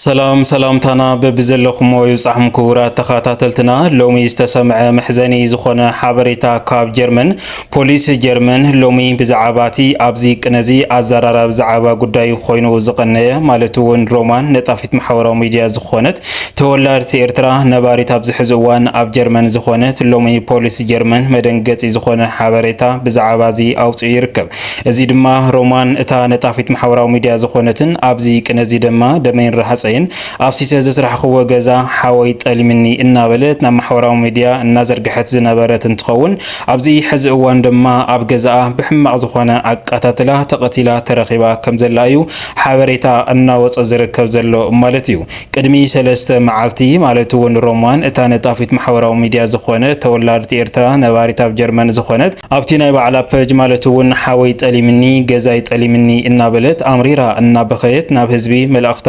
ሰላም ሰላምታና በብዘለኹሞ ይብጻሕም ክቡራት ተኸታተልትና ሎሚ ዝተሰምዐ መሕዘኒ ዝኾነ ሓበሬታ ካብ ጀርመን ፖሊስ ጀርመን ሎሚ ብዛዕባ እቲ ኣብዚ ቅነዚ ኣዘራራቢ ዛዕባ ጉዳዩ ኮይኑ ዝቐነየ ማለት እውን ሮማን ነጣፊት ማሕበራዊ ሚድያ ዝኾነት ተወላድቲ ኤርትራ ነባሪት ኣብዚ ሕዚ እዋን ኣብ ጀርመን ዝኾነት ሎሚ ፖሊስ ጀርመን መደንገጺ ዝኾነ ሓበሬታ ብዛዕባ እዚ ኣውፅኡ ይርከብ እዚ ድማ ሮማን እታ ነጣፊት ማሕበራዊ ሚድያ ዝኾነትን ኣብዚ ቅነ እዚ ደማ ደመይን ራሃፀይን ኣፍሲሰ ዘስራሕኽዎ ገዛ ሓወይ ጠሊምኒ እናበለት ናብ ማሕበራዊ ሚድያ እናዘርገሐት ዝነበረት እንትኸውን ኣብዚ ሕዚ እዋን ደማ ኣብ ገዛኣ ብሕማቕ ዝኾነ ኣቃታትላ ተቐቲላ ተረኺባ ከምዘላ እዩ ሓበሬታ እናወፀ ዝርከብ ዘሎ ማለት እዩ ቅድሚ ሰለስተ መዓልቲ ማለት እውን ሮማን እታ ነጣፊት ማሕበራዊ ሚድያ ዝኾነት ተወላዲት ኤርትራ ነባሪት ኣብ ጀርመን ዝኾነት ኣብቲ ናይ ባዕላ ፐጅ ማለት እውን ሓወይ ጠሊምኒ፣ ገዛይ ጠሊምኒ እናበለት ኣምሪራ እናበኸየት ናብ ህዝቢ መልእኽታ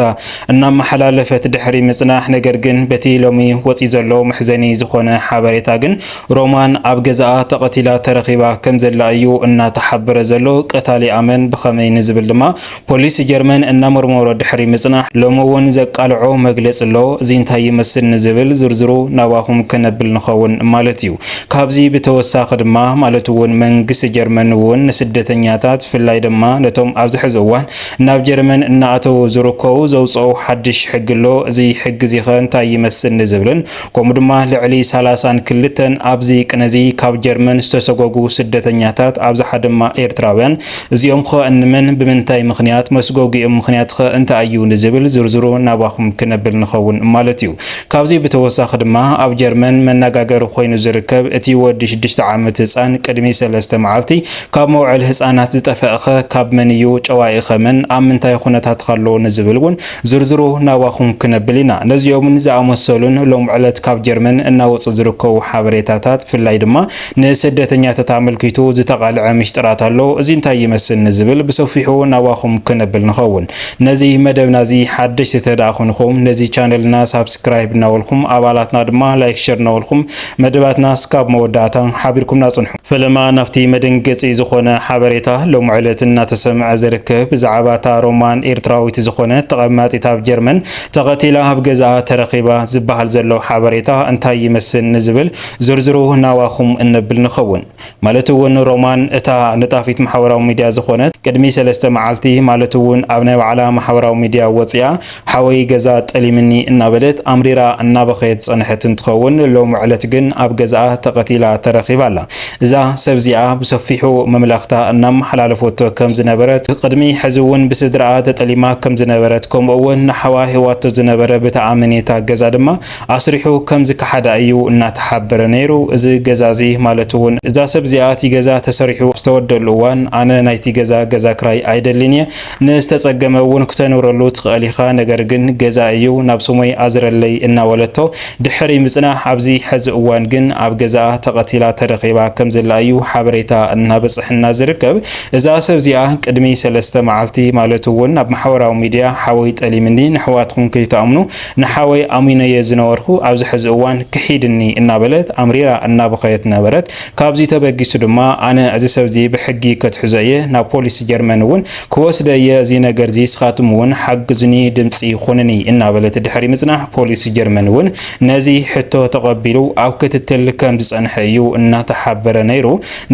እናመሓላለፈት ድሕሪ ምፅናሕ ነገር ግን በቲ ሎሚ ወፂኡ ዘሎ መሕዘኒ ዝኾነ ሓበሬታ ግን ሮማን ኣብ ገዛኣ ተቐቲላ ተረኺባ ከምዘላ እዩ እናተሓበረ ዘሎ። ቀታሊኣ መን ብኸመይ ንዝብል ድማ ፖሊስ ጀርመን እናመርመሮ ድሕሪ ምጽናሕ ሎሚ እውን ዘቃልዖ መግለጺ ኣሎ። እዚ እንታይ ይመስል ንዝብል ዝርዝሩ ናባኹም ከነብል ንኸውን ማለት እዩ። ካብዚ ብተወሳኺ ድማ ማለት እውን መንግስቲ ጀርመን እውን ንስደተኛታት ብፍላይ ድማ ነቶም ኣብዚ ሕዚ እዋን ናብ ጀርመን እናኣተዉ ዝርከቡ ዘውጽኦ ሓድሽ ሕጊ ኣሎ። እዚ ሕጊ እዚኸ እንታይ ይመስል ንዝብልን ከምኡ ድማ ልዕሊ ሰላሳን ክልተን ኣብዚ ቅነዚ ካብ ጀርመን ዝተሰጎጉ ስደተኛታት ኣብዝሓ ድማ ኤርትራውያን እዚኦም'ኸ እንመን ብምንታይ ምኽንያት መስጎጊኦም ምኽንያት'ኸ እንታይ እዩ ንዝብል ዝርዝሩ ናባኹም ክነብል ንኸውን ማለት እዩ ካብዚ ብተወሳኺ ድማ ኣብ ጀርመን መናጋገሪ ኮይኑ ዝርከብ እቲ ወዲ ሽዱሽተ ዓመት ህጻን ቅድሚ ሰለስተ መዓልቲ ካብ መውዕል ህጻናት ዝጠፈእ'ኸ ካብ መን እዩ ጨዋኢ'ኸ መን ኣብ ምንታይ ኹነታት'ኸ ኣሎ ንዝብል ውን ዝርዝሩ ናባኹም ክነብል ኢና። ነዚኦምን ዝኣመሰሉን ሎም ዕለት ካብ ጀርመን እናወጹ ዝርከቡ ሓበሬታታት ብፍላይ ድማ ንስደተኛተት ኣመልኪቱ ዝተቓልዐ ሚሽጥራት ኣሎ። እዚ እንታይ ይመስል ንዝብል ብሰፊሑ ናባኹም ክነብል ንኸውን። ነዚ መደብና እዚ ሓደሽቲ ተደኣ ኮንኹም ነዚ ቻነልና ሳብስክራይብ እናበልኩም ኣባላትና ድማ ላይክ ሸር እናበልኩም መደባትና እስካብ መወዳእታ ሓቢርኩምና ጽንሑ። ፈለማ ናብቲ መደንገጺ ዝኾነ ሓበሬታ ሎሚ ዕለት እናተሰምዐ ዝርከብ ብዛዕባ እታ ሮማን ኤርትራዊት ዝኾነት ተቐማጢት ኣብ ጀርመን ተቐቲላ ኣብ ገዛኣ ተረኺባ ዝበሃል ዘሎ ሓበሬታ እንታይ ይመስል ንዝብል ዝርዝሩ ናባኹም እነብል ንኸውን። ማለት እውን ሮማን እታ ነጣፊት ማሕበራዊ ሚድያ ዝኾነት ቅድሚ ሰለስተ መዓልቲ ማለት እውን ኣብ ናይ ባዕላ ማሕበራዊ ሚድያ ወጺኣ ሓወይ ገዛ ጠሊምኒ እናበለት ኣምሪራ እናበኸየት ዝጸንሐት እንትኸውን ሎሚ ዕለት ግን ኣብ ገዝኣ ተቐቲላ ተረኺባ ኣላ። እዛ ሰብ እዚኣ ብሰፊሑ መምላኽታ እናመሓላለፈቶ ከም ዝነበረት ቕድሚ ሕዚ እውን ብስድርኣ ተጠሊማ ከም ዝነበረት ከምኡ እውን ንሓዋ ሂብዋቶ ዝነበረ ብተኣመኔታ ገዛ ድማ ኣስሪሑ ከም ዝከሓዳ እዩ እናተሓበረ ነይሩ። እዚ ገዛ እዚ ማለት እውን እዛ ሰብ እዚኣ እቲ ገዛ ተሰሪሑ ዝተወደኣሉ እዋን ኣነ ናይቲ ገዛ ገዛ ክራይ ኣይደልን እየ፣ ንዝተጸገመ እውን ክተንብረሉ ትኸእል ኢኻ ነገር ግን ገዛ እዩ ናብ ስሞይ ኣዝረለይ እናበለቶ ድሕሪ ምጽናሕ ኣብዚ ሕዚ እዋን ግን ኣብ ገዛኣ ተቐቲላ ተረኺባ ከምዘላ እዩ ሓበሬታ እናበጸሐና ዝርከብ እዛ ሰብ እዚኣ ቅድሚ ሰለስተ መዓልቲ ማለት እውን ኣብ ማሕበራዊ ሚድያ ሓወይ ጠሊምኒ ንሕዋትኩም ከይትኣምኑ ንሓወይ ኣሚነዮ ዝነበርኩ ኣብዚ ሕዚ እዋን ክሒድኒ እናበለት ኣምሪራ እናበኸየት ነበረት ካብዚ ተበጊሱ ድማ ኣነ እዚ ሰብዚ ብሕጊ ከትሕዞ እየ ናብ ፖሊስ ጀርመን እውን ክወስደ እየ እዚ ነገርዚ እስኻትም እውን ሓግዙኒ ድምፂ ኹኑኒ እናበለት ድሕሪ ምፅናሕ ፖሊስ ጀርመን እውን ነዚ ሕቶ ተቐቢሉ ኣብ ክትትል ከምዝፀንሐ እዩ እናተሓበረ ነይሩ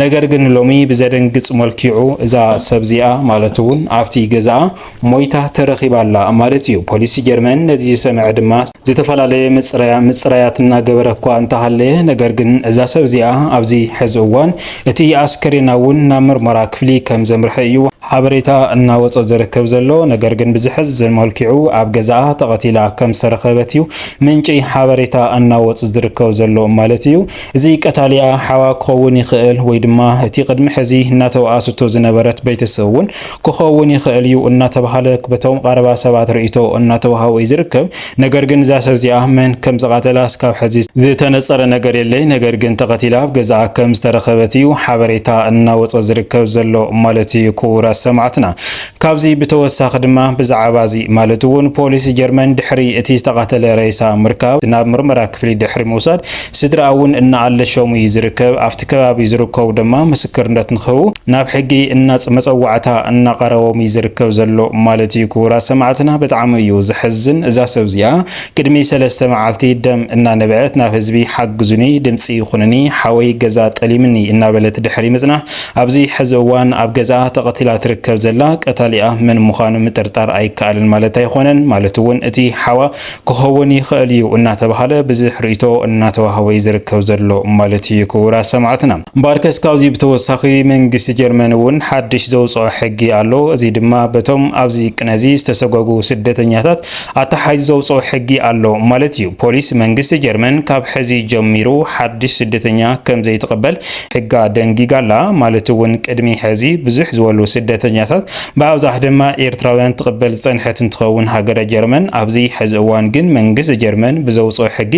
ነገር ግን ሎሚ ብዘደንግፅ መልኪዑ እዛ ሰብዚኣ ማለት እውን ኣብቲ ገዛኣ ሞይታ ተረኺባ ኣላ ማለት እዩ። ፖሊስ ጀርመን ነዚ ዝሰምዐ ድማ ዝተፈላለየ ምጽረያ ምጽራያት እናገበረ እኳ እንተሃለየ፣ ነገር ግን እዛ ሰብ እዚኣ ኣብዚ ሕዚ እዋን እቲ ኣስከሬና እውን ናብ ምርመራ ክፍሊ ከም ዘምርሐ እዩ ሓበሬታ እናወጸ ዝርከብ ዘሎ። ነገር ግን ብዘሕዝን መልክዑ ኣብ ገዛኣ ተቐቲላ ከም ዝተረኸበት እዩ ምንጪ ሓበሬታ እናወጽ ዝርከብ ዘሎ ማለት እዩ። እዚ ቀታሊኣ ሓዋ ክኸውን ይኽእል ወይ ድማ እቲ ቅድሚ ሕዚ እናተወኣሰቶ ዝነበረት ቤተሰብ እውን ክኸውን ይኽእል እዩ እናተብሃለ በቶም ቐረባ ሰባት ርእይቶ እናተውሃቦ እዩ ዝርከብ። ነገር ግን እዛ ሰብ እዚኣ መን ከም ዝቐተላ እስካብ ሕዚ ዝተነፀረ ነገር የለይ። ነገር ግን ተቐቲላ ኣብ ገዝኣ ከም ዝተረኸበት እዩ ሓበሬታ እናወፀ ዝርከብ ዘሎ ማለት እዩ ክቡራት ሰማዕትና። ካብዚ ብተወሳኺ ድማ ብዛዕባ እዚ ማለት እውን ፖሊስ ጀርመን ድሕሪ እቲ ዝተቐተለ ሬሳ ምርካብ ናብ ምርመራ ክፍሊ ድሕሪ ምውሳድ ስድራኣ እውን እናኣለሸሙ እዩ ዝርከብ። ኣብቲ ከባቢ ዝርከቡ ድማ ምስክርነት ንክህቡ ናብ ሕጊ እናፅ መፀዋዕታ እናቐረቦም እዩ ዝርከብ ዘሎ ማለት እዩ። ክቡራት ሰማዕትና ብጣዕሚ እዩ ዘሕዝን እዛ ሰብ እዚኣ ቅድሚ ሰለስተ መዓልቲ ደም እናነበዐት ናብ ህዝቢ ሓግዙኒ ድምፂ ይኹንኒ ሓወይ ገዛ ጠሊምኒ እናበለት ድሕሪ ምፅናሕ ኣብዚ ሕዚ እዋን ኣብ ገዝኣ ተቐቲላ ትርከብ ዘላ ቀታሊኣ መን ምዃኑ ምጥርጣር ኣይከኣልን ማለት ኣይኾነን ማለት እውን እቲ ሓዋ ክኸውን ይኸእል እዩ እናተብሃለ ብዝሕ ርእይቶ እናተዋህቦ እዩ ዝርከብ ዘሎ ማለት እዩ ክቡራት ሰማዕትና። እምበኣርከስ ካብዚ ብተወሳኺ መንግስቲ ጀርመን እውን ሓድሽ ዘውጽኦ ሕጊ ኣሎ። እዚ ድማ በቶም ኣብዚ ቅነ እዚ ዝተሰጎጉ ስደተኛታት ኣተሓሒዙ ዘውጽኦ ሕጊ ኣሎ ማለት እዩ። ፖሊስ መንግስቲ ጀርመን ካብ ሕዚ ጀሚሩ ሓድሽ ስደተኛ ከም ዘይትቕበል ሕጋ ደንጊጋ ኣላ። ማለት እውን ቅድሚ ሕዚ ብዝሕ ዝበሉ ስደተኛታት ብኣብዛሕ ድማ ኤርትራውያን ትቕበል ዝጸንሐት እንትኸውን ሃገረ ጀርመን ኣብዚ ሐዚ እዋን ግን መንግስት ጀርመን ብዘውጽኦ ሕጊ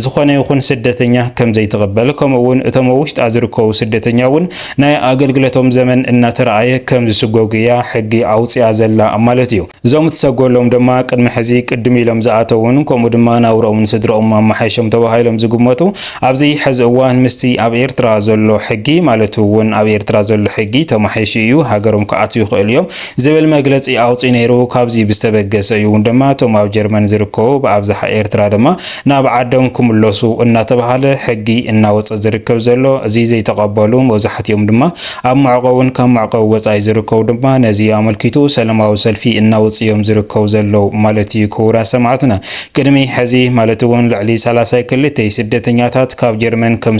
ዝኾነ ይኹን ስደተኛ ከምዘይትቕበል ከምኡ እውን እቶም ኣብ ውሽጣ ዝርከቡ ስደተኛ እውን ናይ ኣገልግለቶም ዘመን እናተረኣየ ከምዝስጎጉ እያ ሕጊ ኣውጺኣ ዘላ ማለት እዩ። እዞም እትሰጎሎም ድማ ቅድሚ ሕዚ ቅድም ኢሎም ዝኣተውን ከምኡ ድማ ናብርኦምን ስድርኦምን ኣማሓይሾም ተባሂሎም ዝግመቱ ኣብዚ ሐዚ እዋን ምስቲ ኣብ ኤርትራ ዘሎ ሕጊ ማለት እውን ኣብ ኤርትራ ዘሎ ሕጊ ተማሒሹ እዩ፣ ሃገሮም ክኣትው ይኽእሉ እዮም ዝብል መግለፂ ኣውፂኡ ነይሩ። ካብዚ ብዝተበገሰ እዩ እውን ድማ እቶም ኣብ ጀርመን ዝርከቡ ብኣብዝሓ ኤርትራ ድማ ናብ ዓዶም ክምለሱ እናተብሃለ ሕጊ እናወፀ ዝርከብ ዘሎ። እዚ ዘይተቐበሉ መብዛሕቲኦም ድማ ኣብ መዕቖብን ካብ መዕቆቢ ወፃኢ ዝርከቡ ድማ ነዚ ኣመልኪቱ ሰለማዊ ሰልፊ እናወፅኡ እዮም ዝርከቡ ዘለዉ ማለት እዩ። ክቡራት ሰማዕትና! ቅድሚ ሕዚ ማለት'ውን ልዕሊ ሰላሳ ክልተይ ስደተኛታት ካብ ጀርመን ከም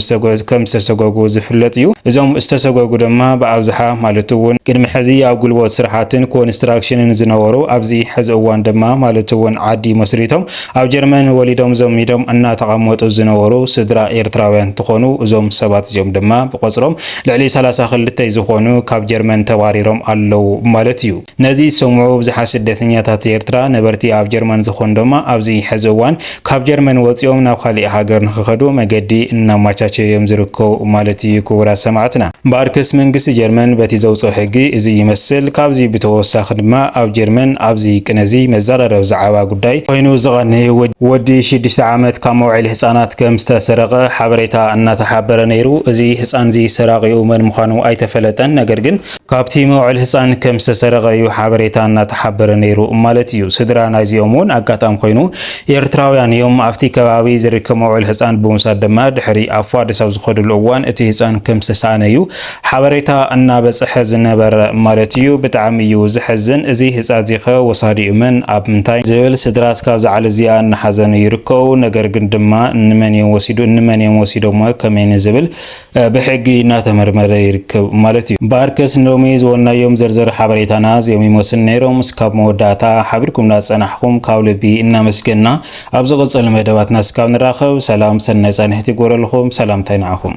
ዝተሰጎጉ ዝፍለጥ እዩ። እዞም ዝተሰጎጉ ድማ ብኣብዝሓ ማለት'ውን፣ ቅድሚ ሕዚ ኣብ ጉልቦት ስራሓትን ኮንስትራክሽንን ዝነበሩ ኣብዚ ሕዚ እዋን ድማ ማለት'ውን ዓዲ መስሪቶም ኣብ ጀርመን ወሊዶም ዘሚዶም እናተቐመጡ ዝነበሩ ስድራ ኤርትራውያን እንትኾኑ እዞም ሰባት እዚኦም ድማ ብቐፅሮም ልዕሊ ሰላሳ ክልተይ ዝኾኑ ካብ ጀርመን ተባሪሮም ኣለው ማለት እዩ። ነዚ ዝሰምዑ ብዙሓት ስደተኛታት ኤርትራ ነበርቲ ኣብ ጀርመን ዝኾኑ ድማ ኣብዚ ሐዚ እዋን ካብ ጀርመን ወፂኦም ናብ ኻሊእ ሃገር ንኽኸዱ መገዲ እናማቻቸዩ እዮም ዝርከቡ ማለት እዩ ክቡራት ሰማዕትና። እምበኣርከስ መንግስቲ ጀርመን በቲ ዘውፅኦ ሕጊ እዙይ ይመስል። ካብዚ ብተወሳኺ ድማ ኣብ ጀርመን ኣብዚ ቅነ እዙይ መዘራረቢ ዝዓባ ጉዳይ ኾይኑ ዝቐንይ ወዲ ሽዱሽተ ዓመት ካብ መውዐሊ ህፃናት ከም ዝተሰረቐ ሓበሬታ እናተሓበረ ነይሩ። እዚ ህፃን እዙይ ሰራቒኡ መን ምዃኑ ኣይተፈለጠን ነገር ግን። ካብቲ መውዕል ህጻን ከም ዝተሰረቐ እዩ ሓበሬታ እናተሓበረ ነይሩ ማለት እዩ። ስድራ ናይዚኦም እውን ኣጋጣሚ ኮይኑ ኤርትራውያን እዮም። ኣብቲ ከባቢ ዝርከብ መውዕል ህጻን ብምውሳድ ድማ ድሕሪ ኣብ ፋድስ ኣብ ዝኸድሉ እዋን እቲ ህጻን ከም ዝተሳእነ እዩ ሓበሬታ እናበጸሐ ዝነበረ ማለት እዩ። ብጣዕሚ እዩ ዘሕዝን። እዚ ህጻ እዚኸ ወሳዲኡ መን ኣብ ምንታይ? ዝብል ስድራ እስካብ ዝዓል እዚኣ እናሓዘኑ ይርከቡ። ነገር ግን ድማ እንመን እዮም ወሲዱ? እንመን እዮም ወሲዶሞ? ከመይ ንዝብል ብሕጊ እናተመርመረ ይርከብ ማለት እዩ። እምበኣርከስ ንሎሚ ዝወናዮም ዝርዝር ሓበሬታና እዚኦም ይመስሉ ነይሮም። እስካብ መወዳእታ ሓቢርኩምና ዝፀናሕኹም ካብ ልቢ እናመስገንና ኣብ ዝቕፅል መደባትና እስካብ ንራኸብ ሰላም ሰናይ ፃንሒት ይግበረልኹም። ሰላምታይ ንዓኹም።